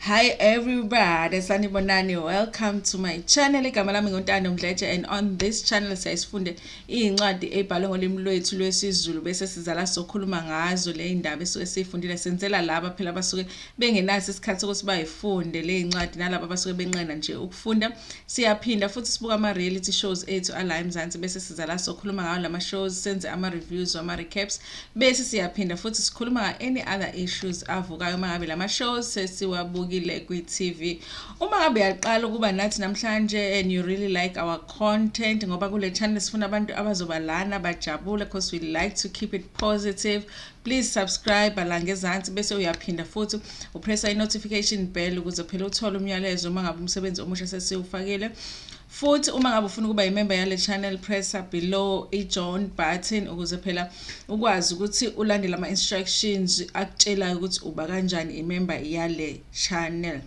Hi everybody, sanibonani. Welcome to my channel. Igama lami nguNtando Mdletshe and on this channel siyayisifunde izincwadi ezibhalwe ngolimi lwethu lwesiZulu bese sizala sokhuluma ngazo le indaba esuke siyifundile. Senzela laba phela abasuke bengenaso isikhathi sokuthi bayifunde le incwadi nalabo abasuke benqena nje ukufunda. Siyaphinda futhi sibuka ama reality shows ethu ala eMzansi bese sizala sokhuluma ngawo lama shows, senze ama reviews, ama recaps. Bese siyaphinda futhi sikhuluma nga-any other issues avukayo uma ngabe lama shows sesiwabukile kwi-TV. Uma ngabe uyaqala ukuba nathi namhlanje and you really like our content ngoba kule channel sifuna abantu abazoba lana bajabule because we like to keep it positive. Please subscribe la ngezansi bese uyaphinda futhi upressa i-notification bell ukuze phela uthole umyalezo uma ngabe umsebenzi omusha sesiwufakile. Futhi uma ngabe ufuna ukuba imemba yale channel pressa below i-join button ukuze phela ukwazi ukuthi ulandele ama-instructions akutshelayo ukuthi uba kanjani imemba yale channel.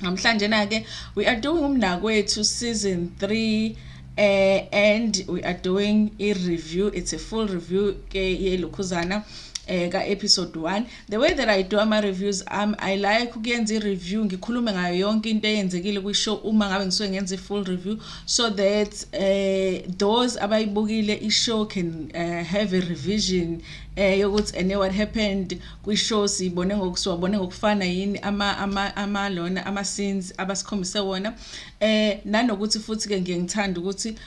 Namhlanje na-ke we are doing umnakwethu season 3 eh, and we are doing i-review it's a full review ke yelokhuzana eh, ka-episode 1 The way that I do ama-reviews ami I like ukuyenza i-review ngikhulume ngayo yonke into eyenzekile kwi-show uma ngabe ngisuke ngenza i-full review so that uh, those abayibukile i-show can uh, have a revision eh yokuthi and what happened kwi-show siyibone ngokusiwabone ngokufana yini ama ama ama lona ama scenes abasikhombise wona eh nanokuthi futhi ke ngiye ngithanda ukuthi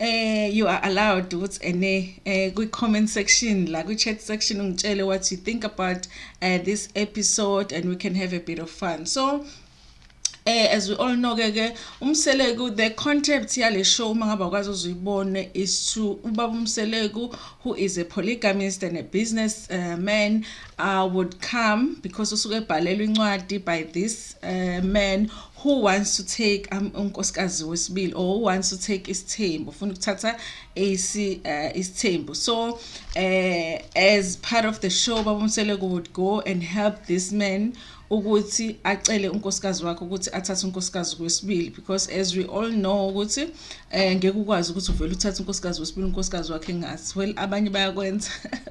Eh you are allowed ukuthi ene eh kwi comment section la kwi chat section ungitshele what you think about uh, this episode and we can have a bit of fun. So eh as we all know ke ke umseleku the concept yale show uma ngaba kwazi uzuyibone is to ubaba umseleku who is a polygamist and a business uh, man uh, would come because usuke ebhalelwa incwadi by this uh, man who wants to take um, unkosikazi wesibili or who wants to take isithembu ufuna ukuthatha isi uh, isithembu so uh, as part of the show babumseleko would go and help this man ukuthi acele unkosikazi wakhe ukuthi athathe unkosikazi kwesibili because as we all know ukuthi eh ngeke ukwazi ukuthi uvele uthathe unkosikazi wesibili unkosikazi wakhe ngathi well abanye bayakwenza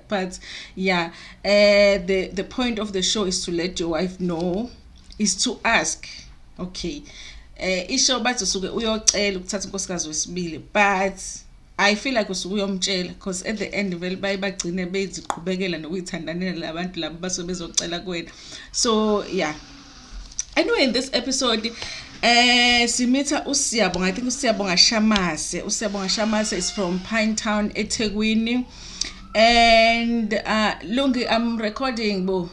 but yeah eh the the point of the show is to let your wife know is to ask okay eh isho bathi usuke uyocela ukuthatha unkosikazi wesibili but I feel like usuke uyomtshela because at the end vele baye bagcine beziqhubekela nokuyithandanela labantu labo basuke bezocela kuwena so yeah anyway in this episode eh simitha usiyabonga i think usiyabonga shamase usiyabonga shamase is from pine town ethekwini and uh, Lungi I'm recording bo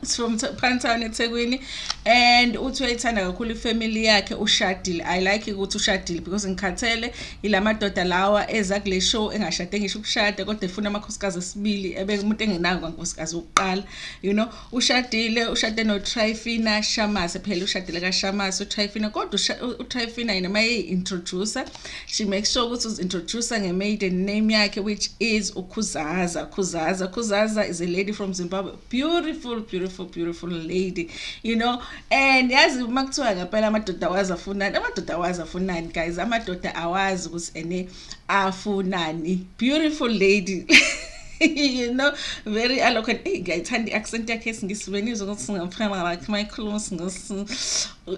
it's from Phantana eThekwini and uthi uyayithanda kakhulu ifamily yakhe ushadile I like ukuthi ushadile because ngikhathele ilamadoda lawa eza kule show engashade ngisho ukushada kodwa efuna amakhosikazi esibili ebe umuntu engenayo kankosikazi wokuqala you know ushadile ushade noTryfina Shamase phela ushadile kaShamase uTryfina kodwa uTryfina yena maye introducer she makes sure ukuthi uzintroducer ngemaiden name yakhe which is uKhuzaza Khuzaza Khuzaza is a lady from Zimbabwe beautiful beautiful beautiful lady you know and yazi uma kuthiwa ngempela amadoda awazi afunani amadoda awazi afunani guys amadoda awazi ukuthi ene afunani beautiful lady you know very eloquent eyi ngiyayithanda i-accent yakhe esingisi benizwe ukuthi singamfana wakhe uma ekhuluma isingisi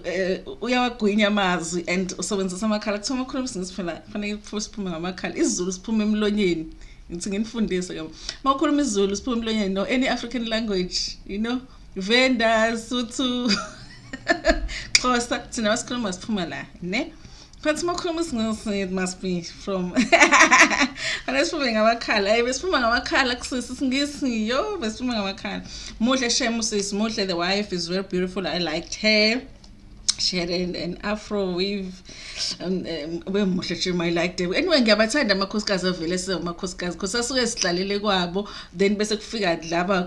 eh, uyawagwinya amazwi and usebenzisa amakhala kuthiwa uma ukhuluma isingisi phela kufanele siphume ngamakhala isizulu siphume emlonyeni ngithi nginifundise ke uma ukhuluma isizulu siphume emlonyeni no any african language you know vendors suthu xhosa thina basikhuluma siphuma la ne But Mokhuluma singisi it must be from Ana siphuma ngamakhala. Hey besiphuma ngamakhala kusisi singisi yo besiphuma ngamakhala. Muhle shame usisi muhle the wife is very beautiful I liked her. She had an, an afro weave um, um, bemuhle nje my liked her. Anyway ngiyabathanda amakhosikazi avele size amakhosikazi because asuke sidlalele kwabo then bese kufika laba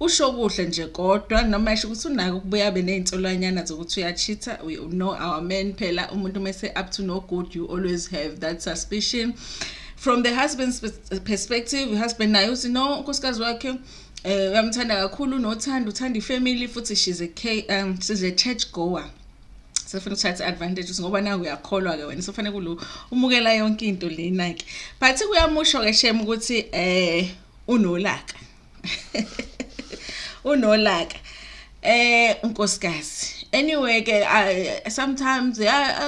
Usho kuhle nje kodwa noma esho ukuthi unake ukubuya abe nezinsolwanyana zokuthi uyacheater we know our men phela umuntu mese up to no good you always have that suspicion from the husband's perspective husband naye uthi no unkosikazi wakhe eh uyamthanda kakhulu nothanda uthanda ifamily futhi she's a K, um she's a church goer sefuna ukuthatha advantage ukuthi ngoba nawe uyakholwa ke wena sofanele kulo umukela yonke into lena ke but kuyamusho ke shem ukuthi eh unolaka unolaka eh unkosikazi anyway ke sometimes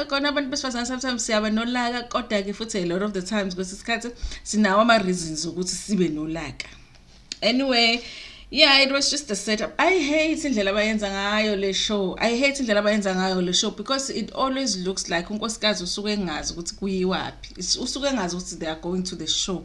kona abantu besifazane sometimes siyaba nolaka kodwa ke futhi a lot of the times kwesinye isikhathi sinawo ama reasons ukuthi sibe nolaka anyway yeah it was just a setup i hate indlela abayenza ngayo le show i hate indlela abayenza ngayo le show because it always looks like unkosikazi usuke engazi ukuthi kuyiwaphi usuke engazi ukuthi they are going to the show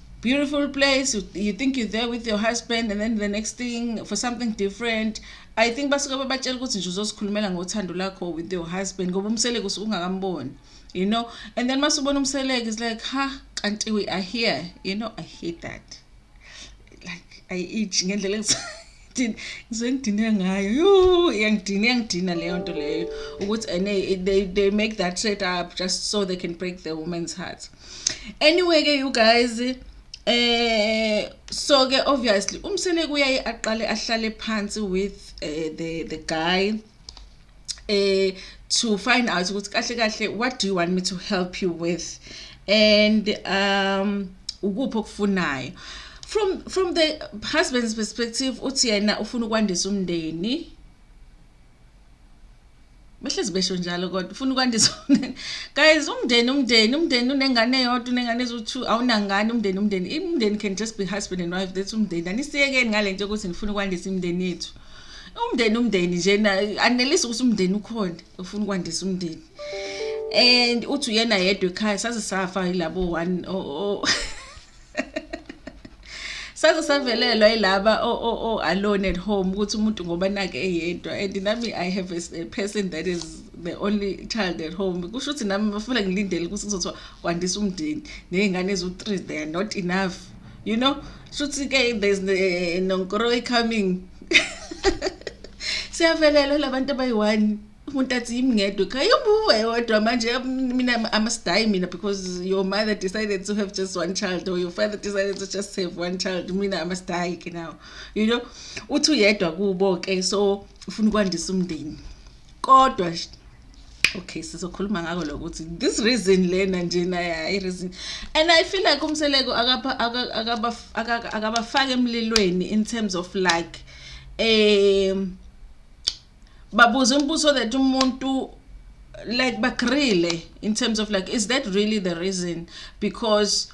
beautiful place you, you think you're there with your husband and then the next thing for something different i think basuke babatshela ukuthi nje uzosikhulumela ngothando lakho with your husband ngoba umseleko usuke ungakamboni you know and then masubona umseleko is like ha kanti we are here you know i hate that like i itch ngendlela ngizwe ngidine ngayo yuu iyangidina iyangidina leyo nto leyo ukuthi and eh, they, they make that set up just so they can break the woman's heart anyway ke you guys eh so ke obviously umsele kuyaye aqale ahlale phansi with uh, the the guy eh to find out ukuthi kahle kahle what do you want me to help you with and um ukuphi okufunayo from from the husband's perspective uthi yena ufuna ukwandisa umndeni behlezi besho njalo kodwa ufuna ukwandisa guys umndeni umndeni umndeni unengane eyodwa unengane eziwu-two awunangane umndeni umndeni umndeni can just be husband and wife that's umndeni anisiyekeni ngale nto yokuthi ngifuna ukwandisa imindeni yethu umndeni umndeni nje anelisa ukuthi umndeni ukhona ufuna ukwandisa umndeni and uthi uyena yedwa ekhaya saze safa yilabo one saze savelelwa yilaba o alone at home ukuthi umuntu ngoba nake eyedwa and nami i have a person that is the only child at home kusho ukuthi nami bafuna ngilindele ukuthi kuzothiwa kwandisa umndeni nezingane eziwu-three they are not enough you know shuthi ke there's eh, nonkoroyi coming siyavelelwa labantu abayi-one umuntu athi yimi ngedwa ekhaya yobuwe wedwa manje mina i must die mina because your mother decided to have just one child or your father decided to just have one child mina i must die ke now you know uthi uyedwa kubo-ke so ufuna ukwandisa umndeni kodwa okay sizokhuluma ngako lokuthi this reason lena nje naya i reason and i feel like umseleko akaba akaba akabafaka emlilweni in terms of like um babuza umbuzo that umuntu like bagrile in terms of like is that really the reason because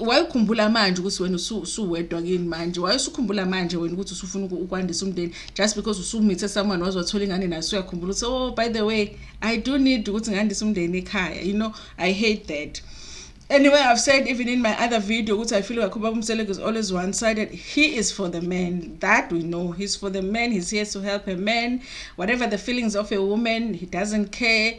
wayekhumbula manje ukuthi wena usuwedwa kini manje wayesukhumbula manje wena ukuthi usufuna ukwandisa umndeni just because usumithe someone waze wathola ingane naye usuyakhumbula ukuthi oh by the way i do need ukuthi ngandise umndeni ekhaya you know i hate that anyway i've said even in my other video ukuthi i feel like ubaba umseleko is always one sided he is for the man that we know he's for the man he's here to help a man whatever the feelings of a woman he doesn't care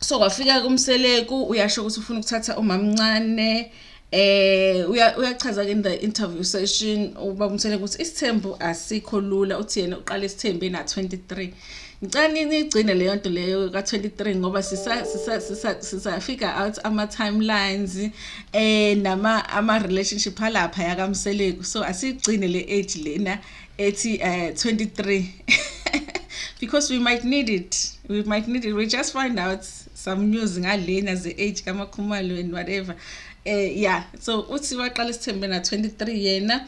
so kwafika kumseleku uyasho ukuthi ufuna ukuthatha umamncane eh uyachaza ke in the interview session uba umthele ukuthi isithembu asikho lula uthi yena uqala isithembu ena 23 ngicela nigcine leyo nto leyo ka-23 ngoba sisafika out ama-timelines eh nama ama-relationship alapha yakamseleku so asigcine le age lena ethi uh, eh, 23 because we might need it we might need it we just find out some news ngalena ze-age kamakhumalo and whatever um uh, yeah so uthi waqala isithembe na-23 yena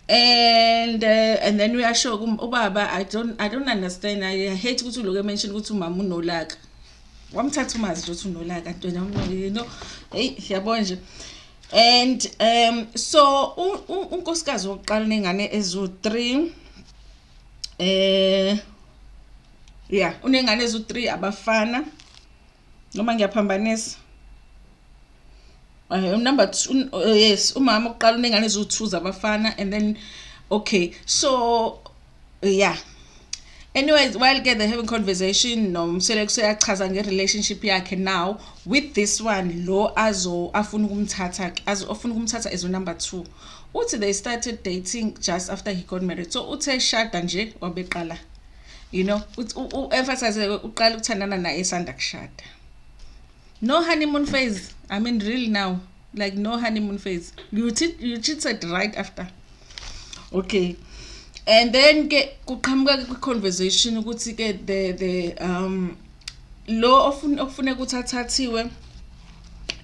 and uh, and then uyasho ubaba i don't i don't understand i hate ukuthi uloku emention ukuthi umama unolaka wamthatha umazi nje ukuthi unolaka ntwena you know eyi siyabona nje and um so unkosikazi wokuqala nengane ezu-3 eh yeah unengane ezu-3 abafana noma ngiyaphambanisa um eh, number two eh, yes umama ukuqala unengane eziwu-two zabafana and then okay so yeah anyways while ke they having conversation nomseleku seyachaza nge-relationship yakhe now with this one lo azo afuna ukumthatha azo afuna ukumthatha as number two uthi they started dating just after he got married so uthe shada nje wabeqala you know u-emphasize uqala ukuthandana naye esanda kushada no honeymoon phase i mean real now like no honeymoon phase you cheat you cheated right after okay and then ke kuqhamuka kwi conversation ukuthi ke the the um lo ofuna ofuna ukuthi athathiwe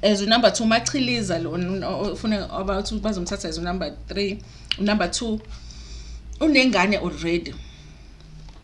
as u number 2 machiliza lo ofuna about bazomthatha as u number 3 u number 2 unengane already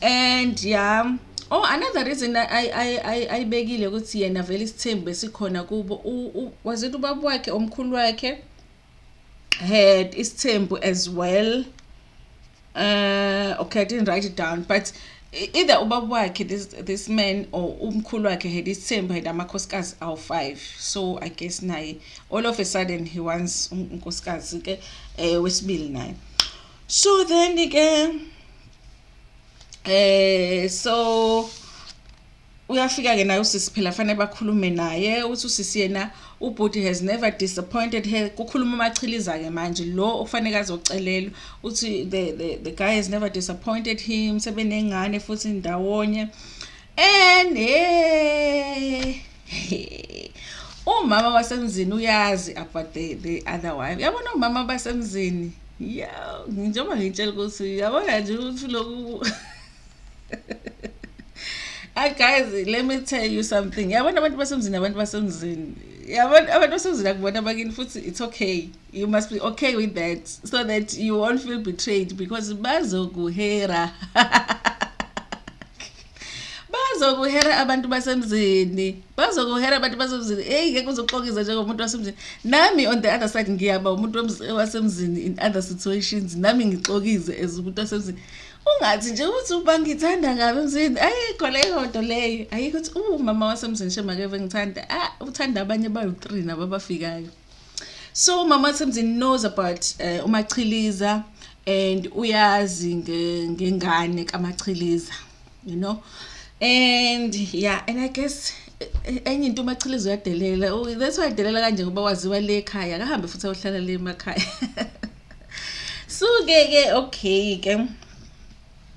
and yeah oh another reason ayibekile ukuthi yena vele isithembu besikhona kubo was it ubaba wakhe omkhulu wakhe had isithembu as well uh, okay i didn't write it down but either ubaba wakhe this, this man or umkhulu wakhe had isithembu had amakhosikazi awu-five so i guess naye all of a sudden he wants unkosikazi-ke um wesibili naye so then ke eh so uyafika ke naye usisi phela fanele bakhulume naye uthi usisi yena ubhuti has never disappointed her kukhuluma umachiliza ke manje lo okufanele azocelelwa uthi the, the, the guy has never disappointed him sebenengane futhi ndawonye Ene umama wasemzini uyazi about the, the other wife yabona umama basemzini ya njengoba ngitshela ukuthi yabona nje ukuthi lokhu Hi guys, let me tell you something. Yabona abantu basemzini abantu basemzini. Yabona abantu basemzini akubona bakini futhi it's okay. you must be okay with that so that you won't feel betrayed because bazokuhera bazokuhera abantu basemzini bazokuhera abantu basemzini eyi ngeke uzoxokiza njengomuntu wasemzini nami on the other side ngiyaba umuntu wasemzini in other situations nami ngixokize as umuntu wasemzini ungathi nje ukuthi uba ngithanda ngabe emzini ayikho leyo nto leyo ayikho ukuthi umama wasemzini shemakeve ngithanda ah uthanda abanye bawu-three nabo abafikayo so mama wasemzini knows about uh, umachiliza and uyazi ngengane kamachiliza you know and yeah and i guess enye into umachiliza uyadelela that's why adelela kanje ngoba waziwa le ekhaya akahambe futhi ayohlala le emakhaya so-ke ke okay ke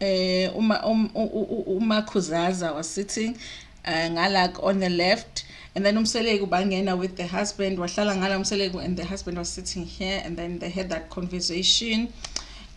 eh uma um, uma khuzaza was sitting uh, eh, ngalak on the left and then umseleku bangena with the husband wahlala ngala umseleku and the husband was sitting here and then they had that conversation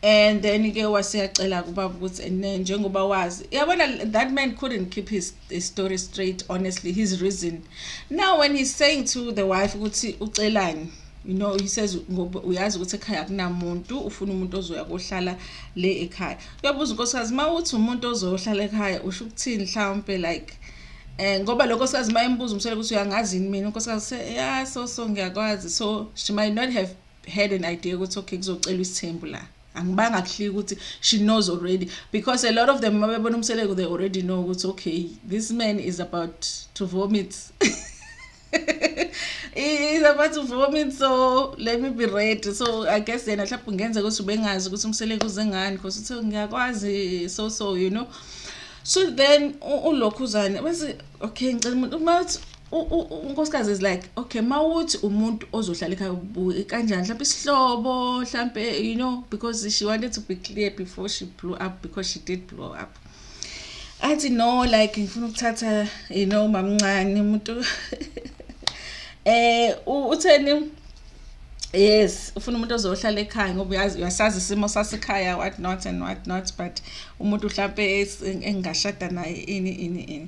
and then ke waseyacela kubaba ukuthi njengoba wazi yabona that man couldn't keep his the story straight honestly his reason now when he's saying to the wife ukuthi ucelani you know he says ngoba uyazi ukuthi ekhaya akunamuntu ufuna umuntu ozoya kohlala le ekhaya uyabuza unkosikazi uma uthi umuntu ozohlala ekhaya usho ukuthini mhlawumpe like eh ngoba lokho sikazi mayembuza umsele ukuthi uyangazi yini mina unkosikazi se yeah so so ngiyakwazi so she might not have had an idea ukuthi okay kuzocelwa isithembu la angibanga kuhlika ukuthi she knows already because a lot of them mabebona umseleku they already know ukuthi okay this man is about to vomit is about to vomit so let me be ready so i guess yena mhlawumbe kungenzeka ukuthi ubengazi ukuthi umseleku uze ngani because uthe ngiyakwazi so so you know so then ulokhuzane bese okay ngicela umuntu uma unkosikazi is like okay mawuthi umuntu ozohlala ekhaya ubuye kanjani mhlawumbe isihlobo mhlawumbe you know because she wanted to be clear before she blew up because she did blow up athi no like ngifuna ukuthatha you know mamncane umuntu eh utheni yes ufuna umuntu ozohlala ekhaya ngoba uyazi uyasazi isimo sasekhaya what not and what not but umuntu mhlampe engashada naye ini ini ini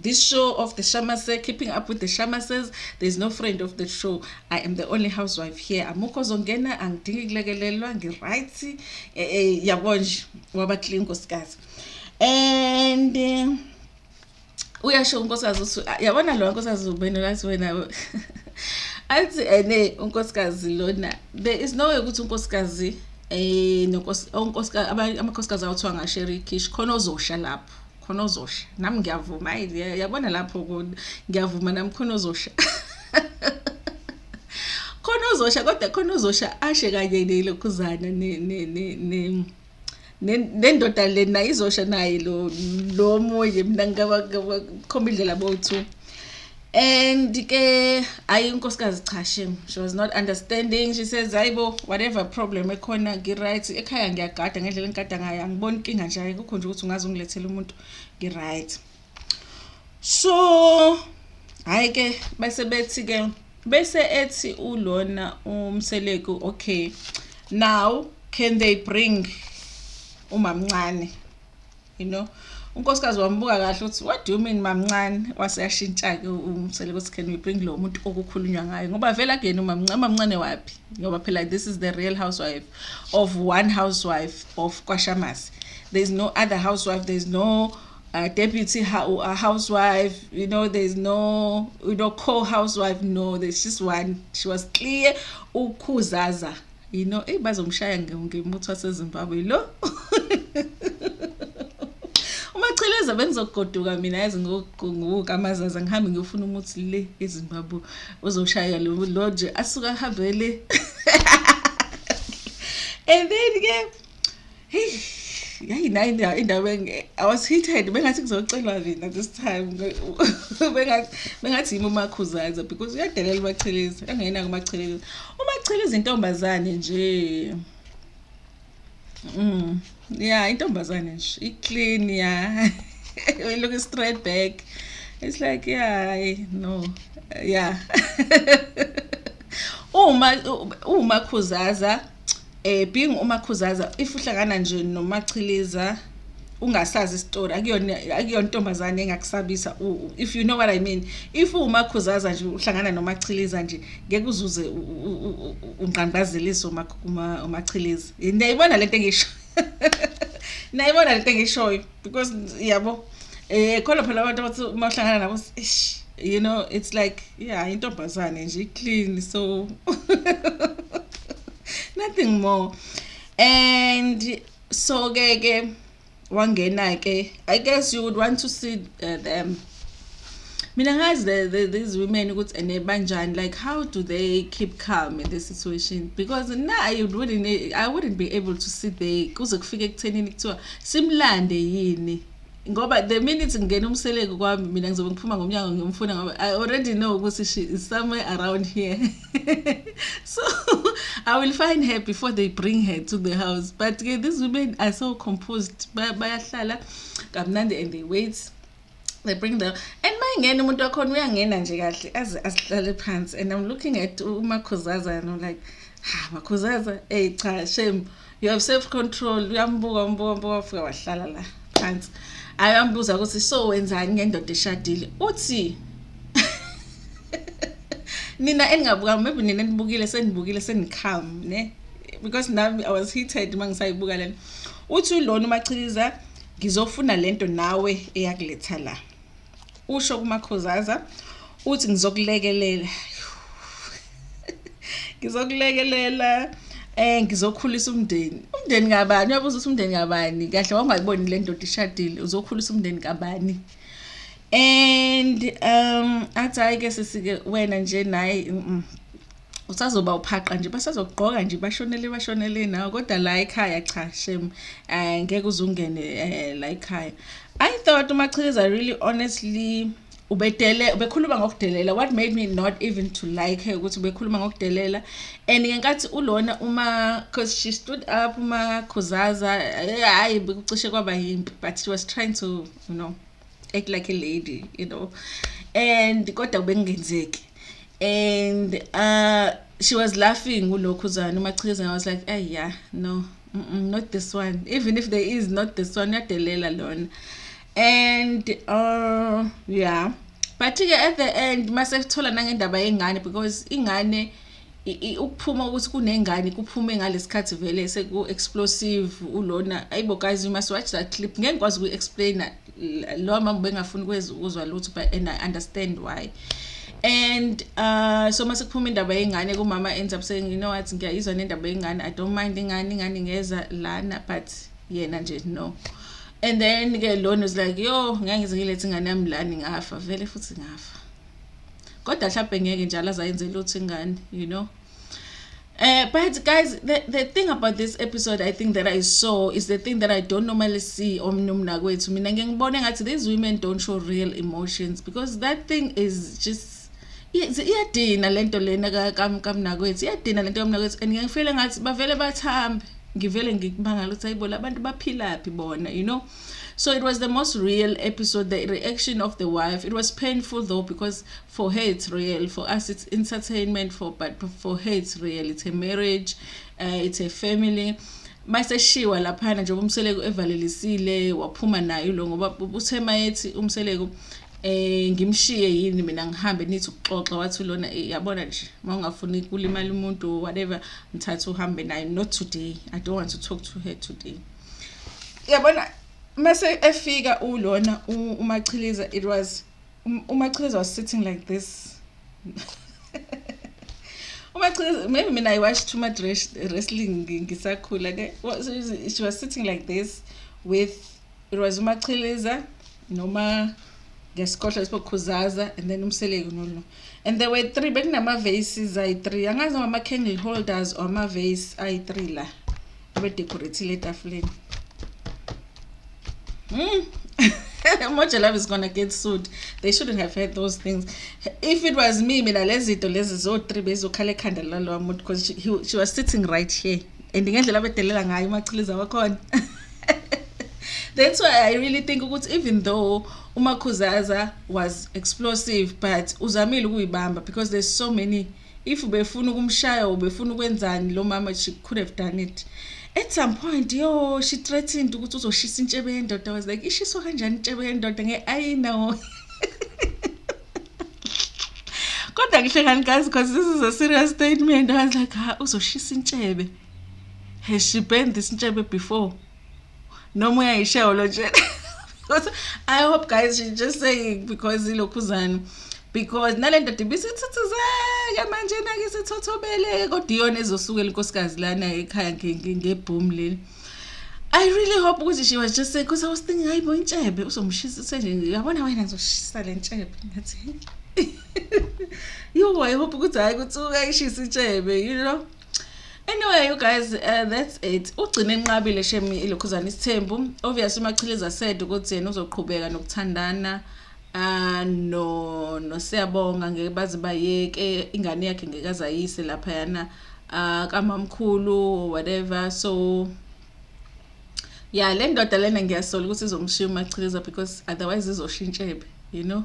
This show of the Shamase, keeping up with the Shamases, there's no friend of the show. I am the only housewife here. Amukho zongena angidingi kulekelelwa ngiright. Eh, eh yabo nje waba clean nkosikazi. And eh, uyasho unkosikazi uthi ah, yabona lo nkosikazi ubene lathi wena. Athi ene eh, unkosikazi lona. There is no way ukuthi unkosikazi eh nonkosikazi amakhosikazi awuthiwa ngasherikhish khona ozosha lapho. khona ozosha nami ngiyavuma ayi yabona lapho ngiyavuma nami khona ozosha khona ozosha kodwa khona ozosha ashe kanye nelokhuzana ne ne ne ne nendoda le nayo izosha naye lo lo moye mina ngaba khomba indlela bowu-two and ke hayi inkosikazi cha shem she was not understanding she says hayibo whatever problem ekhona ngi-right ekhaya ngiyagada ngendlela engigada ngayo angiboni inkinga nje kukho nje ukuthi ungaze ungilethele umuntu ngi-right so hhayi ke bese bethi ke bese ethi ulona umseleku okay now can they bring umamncane you know unkosikazi wambuka kahle ukuthi what do you mean mamncane waseyashintsha-ke umsele ukuthi can we bring lo muntu okukhulunywa ngayo ngoba vele akuyena umamncane umamncane waphi ngoba phela this is the real housewife of one housewife of kwashamasi there is no other housewife there is no uh, deputy uh, housewife you know there is no you know co-housewife no there's just one she was clear ukhuzaza you know eyi bazomshaya ngemuthi wasezimbabwe lo umacheleza bengizogoduka mina yazi ngokuqunguka amazaza ngihambe ngiyofuna umuthi le ezimbabwe uzoshaya lo nje asuke ahambe le and then ke Hey, yayi nayi indawo indawo I was heated bengathi kuzocelwa mina this time bengathi bengathi yimi umakhuzaza because uyadelela umachelezi angena kumachelezi umachelezi intombazane nje mm yeah intombazane nje i clean yeah we look straight back it's like yeah no yeah uma uma khuzaza Eh being umakhuzaza if uhlangana nje nomachiliza ungasazi isitori akuyona akuyona intombazane engakusabisa if you know what i mean if umakhuzaza nje uhlangana nomachiliza nje ngeke uzuze ungqangqazelise umachiliza niyayibona lento engisho niyayibona lento engishoyo because yabo eh khona phela abantu abathi uma uhlangana nabo ish you know it's like yeah intombazane nje clean so nothing more and so ke ke wangena ke i guess you would want to see uh, them mina ngazi the, the, these women ukuthi ene banjani like how do they keep calm in this situation because na i wouldn't i wouldn't be able to sit there kuze kufike ekuthenini kuthiwa simlande yini ngoba the minute ngingena umseleku kwami mina ngizobe ngiphuma ngomnyango ngiyomfuna ngoba i already know ukuthi she is somewhere around here so i will find her before they bring her to the house but ke these women are so composed bayahlala kamnandi and they wait they bring them and uma ingena umuntu wakhona uyangena nje kahle aze asihlale phansi and i'm looking at umakhuzaza and i'm like ha makhuzaza eyi cha shame you have self control uyambuka umbuka umbuka wafika wahlala la phansi ayambuza ukuthi so wenzani ngendoda eshadile uthi nina eningabukanga maybe nina enibukile senibukile senicalm ne because nami i was heated uma ngisayibuka lena uthi ulona umachiliza Ngizofuna lento nawe eyakuletha la. Usho kumakhozaza uthi ngizokulekelela. Ngizokulekelela eh ngizokhulisa umndeni umndeni kabani uyabuza ukuthi umndeni kabani kahle wangayiboni le ndoda ishadile uzokhulisa umndeni kabani and um athi hayi ke sisike wena nje naye usazoba uphaqa nje basazokugqoka nje bashonele bashonele nawe kodwa la ekhaya cha shem eh ngeke uzungene eh, la ekhaya i thought umachiliza really honestly ubedele ubekhuluma ngokudelela what made me not even to like her ukuthi ubekhuluma ngokudelela and ngenkathi ulona uma cause she stood up uma khuzaza eh, hayi bekucishe kwaba yimpi but she was trying to you know act like a lady you know and kodwa bekungenzeki and uh she was laughing ulokhuzana umachizana was like ay yeah no mm -mm, not this one even if there is not this one uyadelela lona and uh yeah but-ke at the end mase kuthola nangendaba yengane because ingane ukuphuma ukuthi kunengane kuphume ngalesikhathi vele seku explosive ulona ayibo guys you must watch that clip ngeke ngikwazi uku explainer lo mama bengafuni kwezi ukuzwa lutho but and i understand why and uh so mase kuphuma indaba yengane kumama ends up saying you know what ngiyayizwa nendaba yengane i don't mind ingane ingane ngeza lana but yena nje no and then ke lona is like yo ngeke ngize ngilethe ingane yami lani ngafa vele futhi ngafa kodwa mhlawumbe ngeke njalo azayenze lutho ingane you know Uh, but guys, the, the thing about this episode I think that I saw is the thing that I don't normally see on Numnakwethu. Mina ngibone ngathi these women don't show real emotions because that thing is just iyadina lento lena kamnakwethu iyadina lento kamnakwethu and ngiyangifile ngathi bavele bathambe ngivele ngikubangala ukuthi ayibo labantu baphilaphi bona you know So it was the most real episode. The reaction of the wife, it was painful though because for her it's real, for us it's entertainment. For but for her it's real. It's a marriage, uh, it's a family. maseshiwa laphana njengoba umseleku evalelisile waphuma nayo lo ngoba uthe mayethi umseleku eh ngimshiye yini mina ngihambe nithi ukuxoxa wathi lona eh, yabona nje mawungafuni kulimala umuntu whatever ngithatha uhambe naye not today i don't want to talk to her today Yabona mase efika ulona uMachiliza it was uMachiliza was sitting like this. uMachiliza maybe mina I watched too much wrestling ngisakhula ke she was sitting like this with it was uMachiliza noma ngesikhohlo lesibokhuzaza and then umseleki nolo and there were three bekunama-vases ayi-three angazi ngama-candle holders or ama-vase ayi-three la abedecorethile etafuleni mm. Moja love is gonna get sued. They shouldn't have had those things. If it was me, mina lezito lezi zo three bezokhala ekhanda lalo muntu because she, he, she was sitting right here. And ngendlela bedelela ngayo umachiliza wakhona. That's why I really think ukuthi even though umakhuzaza was explosive but uzamile ukuyibamba because there's so many uh, if ubefuna ukumshaya ubefuna ukwenzani lo mama she could have done it at some point yo she threatened ukuthi uzoshisa intshebe yendoda was like ishiswa kanjani intshebe yendoda nge-ayina wo kodwa ngihle kanikazi because this is a serious statement i was like ha uzoshisa intshebe has she burned this intshebe before noma uyayishayo lo nje kodwa i hope guys she just saying because ilokhuzana because nale ndoda ibisithuthuzeke manje nake sithothobeleke kodwa iyona ezosukela inkosikazi lana ekhaya ngebhoom leli I really hope ukuthi she was just saying because I was thinking hayi bo intshebe uzomshisa nje uyabona wena ngizoshisa le ntshebe ngathi yo i hope ukuthi hayi kutsuka ishisa intshebe you know Anyway, you guys, uh, that's it. Ugcine enqabile shemi ilokhuzana isithembu. Obviously umachiliza said ukuthi yena uzoqhubeka nokuthandana uh no no siyabonga ngeke baze bayeke ingane yakhe ngeke azayise lapha yana uh ah, kamamkhulu whatever so yeah le ndoda lena ngiyasola ukuthi izomshiya umachiliza because otherwise izoshintshebe you know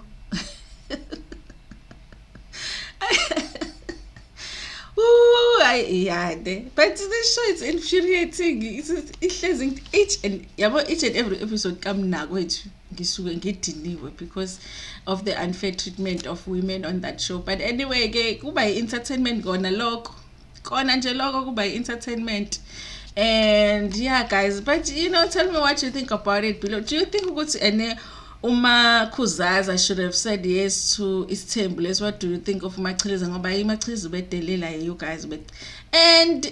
Ooh, ay yade. But this show is infuriating. Ihlezi each and yabo each and every episode kamnakwethu ngisuke ngidiniwe because of the unfair treatment of women on that show. But anyway ke kuba i-entertainment kona lokho. kona nje loko kuba i-entertainment and yeah guys but you know tell me what you think about it below do you think ukuthi ene uma khuzaza should have said yes to isithembu lesi what do you think of machiliza ngoba imachiliza ubedelela you guys and